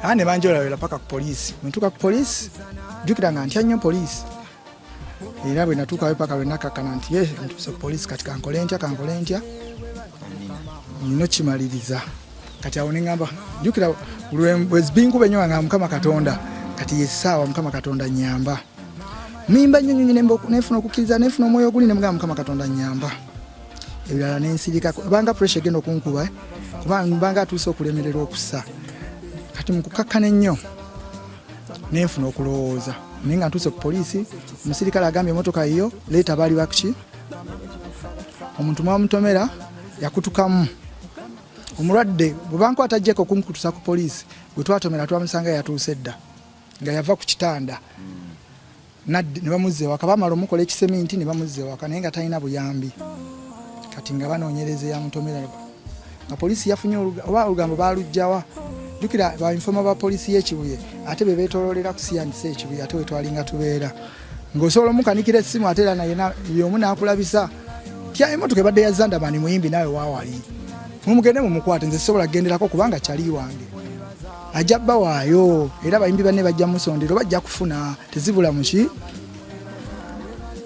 aa ne banjolawera paka ku poliisi mutuuka ku poliisi jjukira nga ntya nnyo poliisi era bwe natuukayo paka lwe nakakkana nti ye ntuuse ku poliisi kati kankole ntya kankole ntya nno kimaliriza kati awo neŋamba jukira lwezibinkuba enyo nga mukama katonda kati yesaawa mukama katonda nyamba mimba nyo nyonyi nefuna okukkiriza nefuna omwoyo oguli nemugamba mukama katonda nyamba ebirala nensirika banga pressure egenda okunkuba eh? kuba banga atuuse okulemererwa okusa kati mukukakkana ennyo nenfuna okulowooza naye nga ntuuse ku poliisi omusirikale agambye emotoka yiyo leeta baali bakki omuntu mwamutomera yakutukamu omulwadde bwebankwata jeko okunkutusa ku poliisi gwe twatomera twamusanga yatuuse dda nga yava ku kitanda Naddi ne bamuzza ewaka bamala omukola ekiseminti ne bamuzza ewaka naye nga talina buyambi kati nga banoonyereza eyamutomera nga poliisi yafunye oba olugambo baalugjawa jukira bainfoma ba poliisi y'ekibuye ate be beetololera kusiyandisa ekibuye ate wetwalinga tubeera ng'osobola omukanikira essimu ate era naye yomu n'akulabisa tya emotoka ebadde ya zandamani muyimbi naawe waawali mumugende mumukwate nze sisobola kugenderako kubanga kyali wange ajja bawaayo era bayimbi banne bajja musondera oba ajja kufuna tezibula muki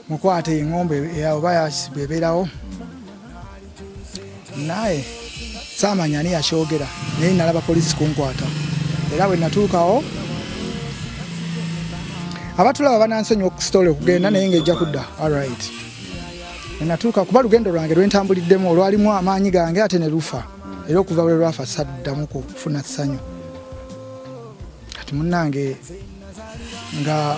mukwata engombe oba yasibwa ebeerawo naye saamanya ani yakyogera naye nalaba polisi kunkwata era bwe natuukawo abatulaba banansonyi okusitole okugenda naye ngaejja kudda alright natuuka kuba lugendo lwange lwentambuliddemu olwalimu amaanyi gange ate ne lufa era okuva lwe lwafa saddamu kufuna ssanyu kati munange nga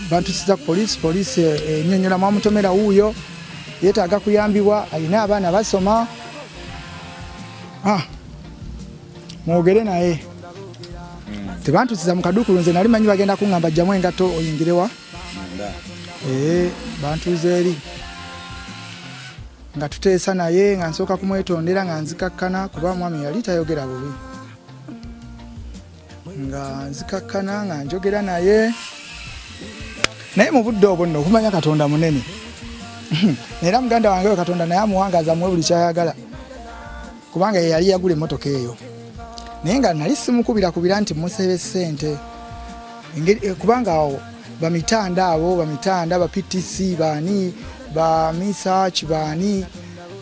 bantusiza ku poliisi poliisi enyonyola mwamutomera wuuyo yetaaga kuyambibwa alina abaana basoma ah, mwogere naye tebantusiza mukadukulu nze nali manyi bagenda kuŋamba jjamu engato oyingirewa ee eh, bantuuza eri nga tuteesa naye nga nsooka kumwetondera nga nzikakkana kuba omwami yali tayogera bubi nga nzikakkana nga njogera naye naye mu budde obwo nno okumanya katonda munene era muganda wange we katonda naye amuwangaza muwe buli kyayagala kubanga ye yali yagula emmotoka eyo naye nga nali simukubira-kubira nti musebe ssente eh, kubanga awo bamitanda abo bamitanda ba ptc baani ba misach baani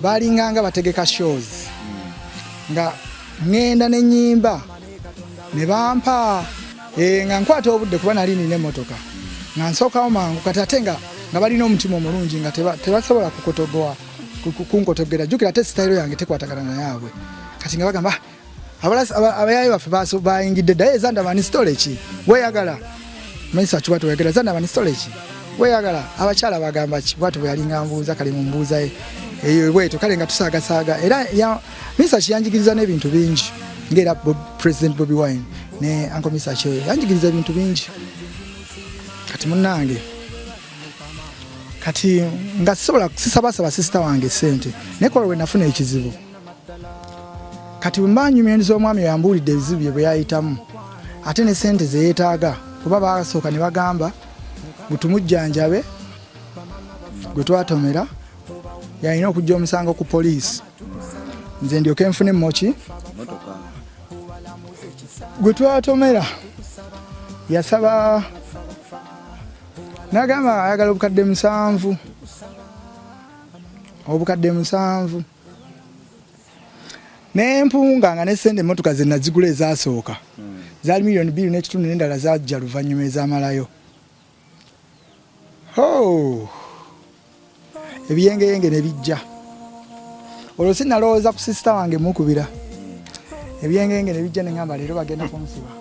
balinganga bategeka shows nga ŋŋenda ne nyimba ne bampa eh, nga nkwata obudde kuba nali nina emmotoka nga nsookawo mangu kati ate nga nga balina omutima omulungi nga tebasobola kukotogowa kunkotoggera jjukira ate sitayiro yange tekwatagana nayaabwe kati nga bagamba ah, abayaayo baffe bayingidde ddayo ezandabani sitole ki weyagala maisa akiwatu weyagala ezandabani sitole ki weyagala abakyala bagamba ki bwatu bweyalinga mbuuza kale mu mbuuza e, eyo bwetyo kale nga tusaagasaaga era maisa kiyanjigiriza n'ebintu bingi ngaera president bobi wine ne ankomisa kyoyo yanjigiriza ebintu bingi kati munange kati nga sisobola sisabasaba sisita wange sente naye kola wenafuna ekizibu kati bwemba nyumya endiza omwami yambuulidde ebizibu bye bweyayitamu ate ne sente zeyetaaga kuba basooka ne bagamba gutumujjanjabe gwe twatomera yalina okujja omusango ku poliisi nze ndyoke nfune moki gwe twatomera yasaba nagamba ayagala obukadde musanvu obukadde musanvu nempunga nga nesente emotoka zenazigula ezasooka hmm. zali miliyoni bbiri nekitundu nendala zajja luvanyuma ezamalayo oh. ebiyengeyenge ne bijja olwo si nalowooza ku sisita wange mukubira ebyengenge ne bijja ne ŋamba leero bagenda kunsiba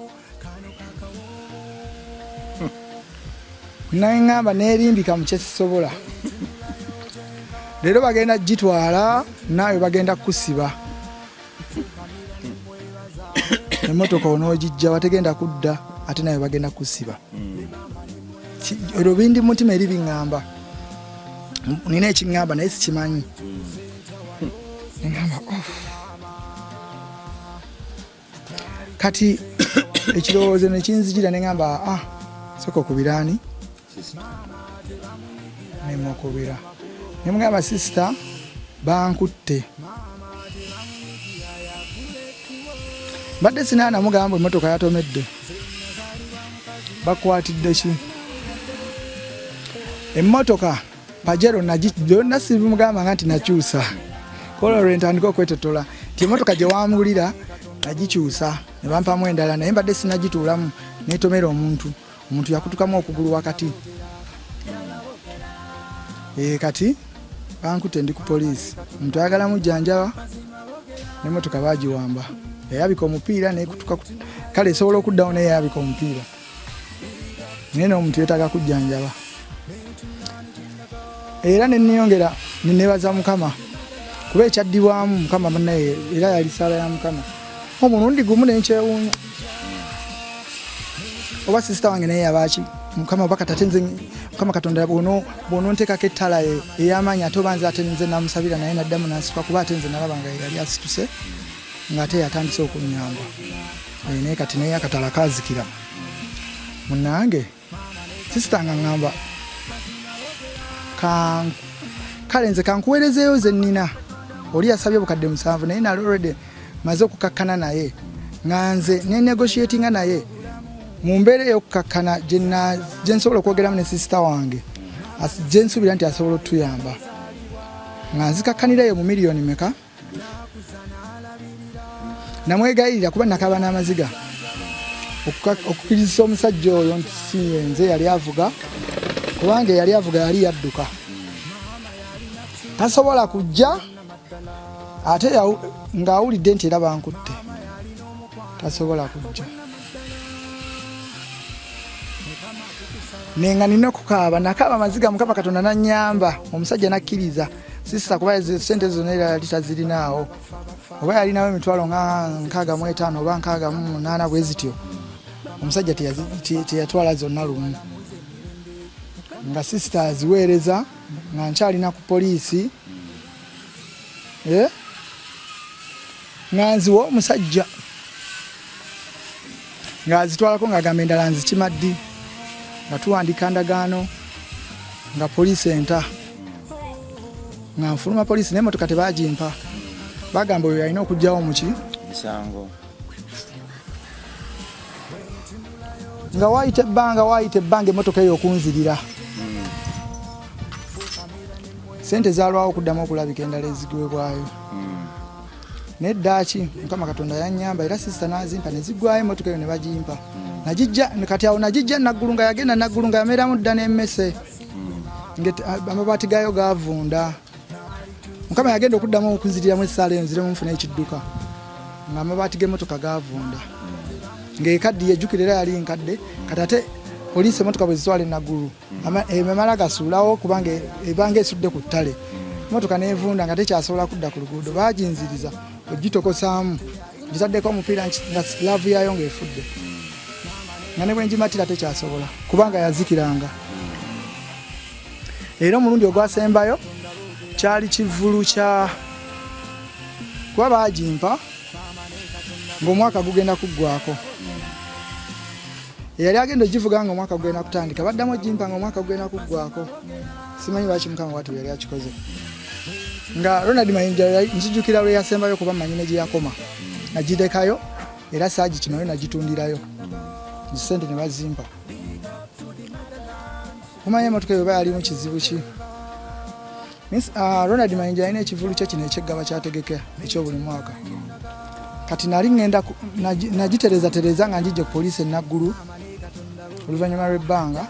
naye ŋamba neerimbika mu kyesisobola leero bagenda gitwala naawe bagenda kusiba emotoka onogijja wategenda kudda ate nawe bagenda kusiba olwo bindi mutima eri biŋamba nina ekiŋamba naye sikimanyi ŋamba oh. kati ekirowoozo nekinzijira neŋamba a ah, soka okubiraani nemukubira nemugamba sisita bankutte mbadde sinaana mugamba emotoka yatomedde bakwatidde ki emmotoka pajero byonna sibimugamba nga nti nakyusa kola lwentandika okwetotola nti emotoka gye wamugulira nagikyusa ne bampamu endala naye mbadde sinagituulamu netomera omuntu omuntu yakutukamu okugulu wakati ee eh, kati bankute ndi ku poliisi omuntu ayagala mujjanjaba nemotoka bagiwamba yayabika omupiira nekutuka kale esobola okuddawo naye yayabika omupiira naye nomuntu yetaga kujjanjaba era neneyongera nenebaza mukama kuba ekyaddibwamu mukama banaye era yali saala ya mukama omulundi gumu nenkyewuunya oba sisita wange naye yabaaki mukama oba katate nze mukama katonda bwononteekako ettala ey'amaanyi ate oba nze ate nze namusabira naye naddamu nansika kuba ate nze nalaba nga yali asituse ng'ate yatandise okunyamba eh, naye kati naye akatala kazikira munange sisita nga ŋŋamba kale nze kankuweerezeeyo ze nnina oli yasabye obukadde musanvu naye nali olredy maze okukakkana naye nga nze nenegotiatinga naye mu mbeera eyokukakkana gye nsobola okwogeramu ne sisita wange gye nsuubira nti asobola otuyamba nga nzikakkanirayo mu miliyoni meka namwegayirira kuba nakaba n'amaziga okukirizisa omusajja oyo nti siyenze yali avuga kubanga eyali avuga yali yadduka tasobola kujja ate ng'awulidde nti era bankutte tasobola kujja nenga nina okukaaba nakaaba amaziga mukama katonda nanyamba omusajja nakkiriza sisita kuba sente zona era yali tazirinaawo oba yalinawo emitwalo nga nkaaga mu etaano oba nkaaga mu munaana bwe zityo omusajja teyatwala zonna lumu nga sisita aziweereza nga nkyalina ku poliisi eh? nga nziwa omusajja ng'azitwalako ng'agamba endala nzikima ddi nga tuwandiika ndagaano nga poliisi enta nga nfuluma poliisi naye motoka tebagimpa bagamba oyo yalina okugyawo muki misango nga wayita ebbanga wayita ebbanga emotoka eyo okunzirira hmm. sente zalwawo okuddamu okulabika endala ezigwebwayo naye ddaaki mukama katonda yanyamba era sisita nazimpa nezigwayo emotoka eyo nebagimpa nagijja kati awo nagijja naggulu nga yagenda naggulu nga yameeramu dda nemmese amabaati gaayo gavunda mukama yagenda okuddamu okunziriramu esaala eyo nziremu nfuna ekidduka nga amabaati g'emotoka gavunda ng'ekaddiye ejjukira era yali nkadde kati ate poliisi emotoka bwe zitwala enaggulu emamala gasuulawo kubanga ebanga esudde ku ttale motoka nevunda nga tekyasobola kudda ku luguudo baginziriza ogitokosaamu gitaddeko omupiira nga laavu yaayo ngaefudde nga ne bwengimatira tekyasobola kubanga yazikiranga era omulundi ogwasembayo kyali kivulu kya kuba baagimpa ng'omwaka gugenda kuggwako eyali agenda ogivuga nga omwaka gugenda kutandika baddamu ogimpa nga omwaka gugenda kuggwako simanyi lwaki mukama watu yali akikoze nga ronald mayinja nzijukira lwe yasembayo kuba manyi ne gye yakoma nagidekayo era saagi kinoyo nagitundirayo nzisente ne bazimpa Mumanya emotoka eyo bayalimu kizibu ki? Miss uh, Ronald Mayinja alina ekivulu kye kino ekyeggaba kyategekera ekyobuli mwaka. Kati nali ngenda nagitereza tereza nga njije poliisi enaggulu oluvannyuma lw'ebbanga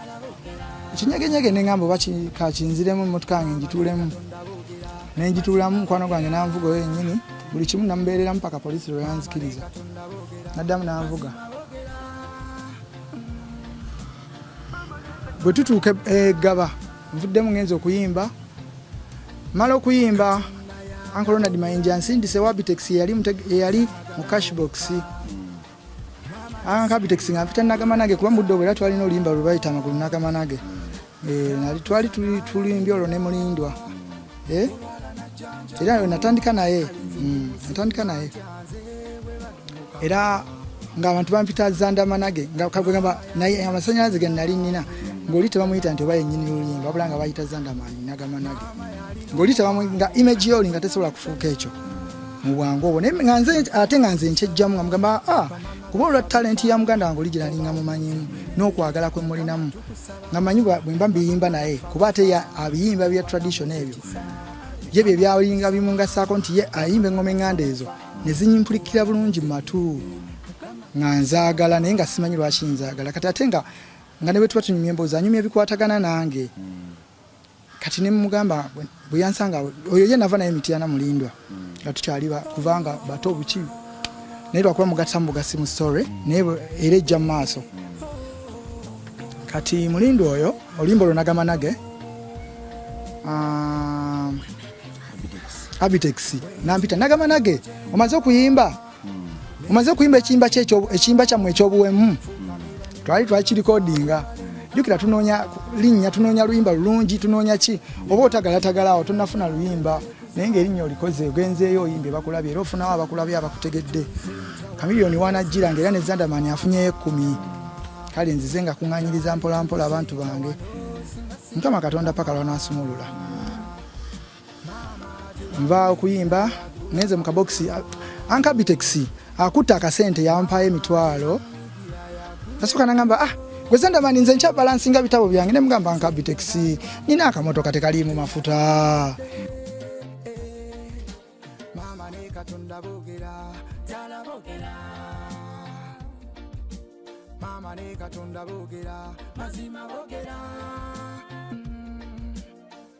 ekinyegenyege ne ngamba oba kakinziremu emotoka yange ngituulemu ne ngituulamu mukwano gwange nanvuga oyo yennyini buli kimu namubeereramu paka poliisi lwe yanzikiriza naddamu nanvuga bwe tutuuka egaba eh, nvuddemu ngenza okuyimba mala okuyimba uncle ronald mayinja nsindise wabitex yeyali mu cashbox ankabitex nga mpita nagamanage kuba mudde obwera twalina oluyimba lwebayita amagulu nagamanage eh, nali twali tulimbye olwo nemulindwa eh? era yo natandika naye mm, natandika naye era ngaabantu bampita zandamanage ngakagamba naye amasanyalaze ge nali nina ngaoli tebamuyita nti oba yenyini lulimba wabula nga bayita zandamani nagamanage ngaoli nga image yoli nga tesobola kufuuka ekyo mu bwangu obwo ate nga nze nkyejjamu nga mugamba ah, kuba olwa talenti ya muganda wange oli gye nalinga mumanyimu n'okwagala kwe mulinamu nga manyi bwemba mbiyimba naye kuba ate abiyimba bya tradition ebyo ye bye byalinga bimungasaako nti ye ayimba engoma enganda ezo nezinyimplikira bulungi mumatu nga nzagala naye nga simanyi lwaki nzagala kati ate nga nga nebwetuba tunyumya emboozi anyumya ebikwatagana nange mm. kati ne mugamba bwe yansanga oyo ye nava naye Mityana Mulindwa hmm. nga tukyali kubanga bato obuki naye lwakuba mugatta mu bugasi mu story hmm. naye era ejja mu maaso hmm. kati Mulindwa oyo olimba olwo nagamba nage ah, Abitex nampita nagamba nage omaze okuyimba omaze okuyimba ekiyimba kye ekiyimba kyammwe ekyobuwemu twali twakirikodinga jukira tunoonya linnya tunoonya luyimba lulungi tunoonya ki oba otagalatagalaawo awo tonafuna luyimba naye ngaerinnya olikoze ogenzeeyo oyimbe bakulabye era ofunawo abakulabye abakutegedde kamiliyoni wanajjira ngaera ne zandamani afunyeyo ekkumi kale nzize nga kuŋanyiriza mpolampola abantu bange mukama katonda paka lwanasumulula nva okuyimba ngenze mu kabokisi ankabitexi akutte akasente yampayo emitwalo nasooka nagamba ah gweza ndaba ninze nkya balansinga bitabo byange ne mugamba ankabitexi nina akamotoka tekaliimu mafuta mama ne katonda bogera mazima bogera